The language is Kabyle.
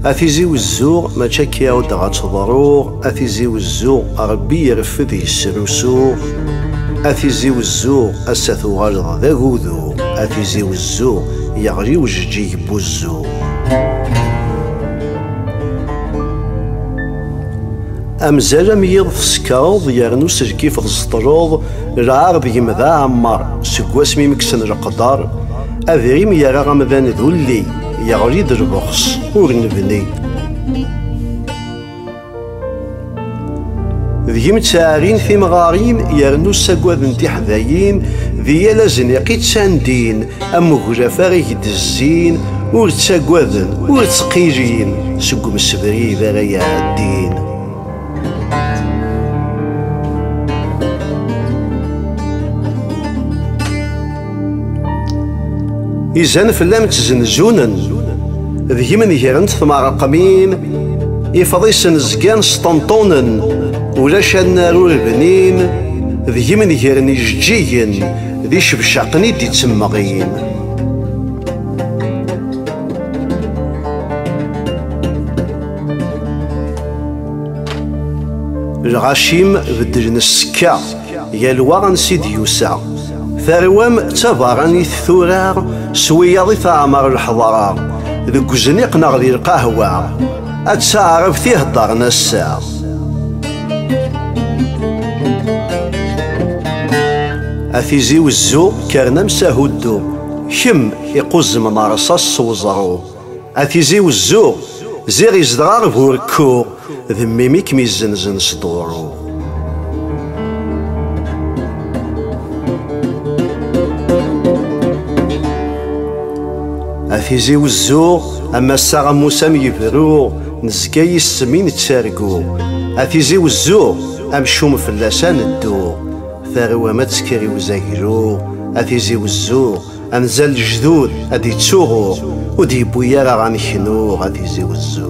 A tizi wezzuɣ mačči akka i d ad teḍruɣ A tizi wezzuɣ Rebbi ireffed yesrusuɣ A tizi wezzuɣ Ass-a tuɣaleḍ d agudu A tizi wezzuɣ Yeɣli ujeǧǧig n wuzzu Amzal am yiḍ tsekreḍ yernu s lkif tzeṭleḍ lɛar d gem d aɛemmar seg wasmi meksen leqdar adrim yerra amdan d ulli yeɣli-d lbeɣs ur nebni deg-m ttɛarin timɣarin yernu ssagaden tiḥdayin di yal azniq i ttandin Am uglafar i gdezzin ur ttagaden ur ttqijin seg umsebrid ara iɛeddin. Izan fell-am ttzenzunen deg-m negren tmeṛqmin ifḍisen zgan sṭenṭunen ulac annar ur bnin deg-m negren ijeǧǧigen D icebcaqen i d-ittemmeɣyin. lɣacim beddlen ssekka yal wa ansi d-yusa tarwa-m d tabaranit tura s wiyaḍ i teɛmer lḥeḍra deg uzniq neɣ di lqahwa ad teɛreb tiheddaren ass-a A tizi wezzu kkren am sahuddu Kemm iquzzem meṛṣas s weẓru A tizi wezzu ziɣ izedɣeɣ bu rekku D mmi-m i kem-izzenzen s duṛu A tizi wezzu am assaɣ am usam yebru Nezga yis-m i nettargu, a tizi wezzu, amcum fell-as ad neddu. Tarwa ma tekker i uzaglu, a tizi wezzu, anza lejdud ad d-ittuɣu, ur d-yewwi ara ad neknuɣ, a tizi wezzu.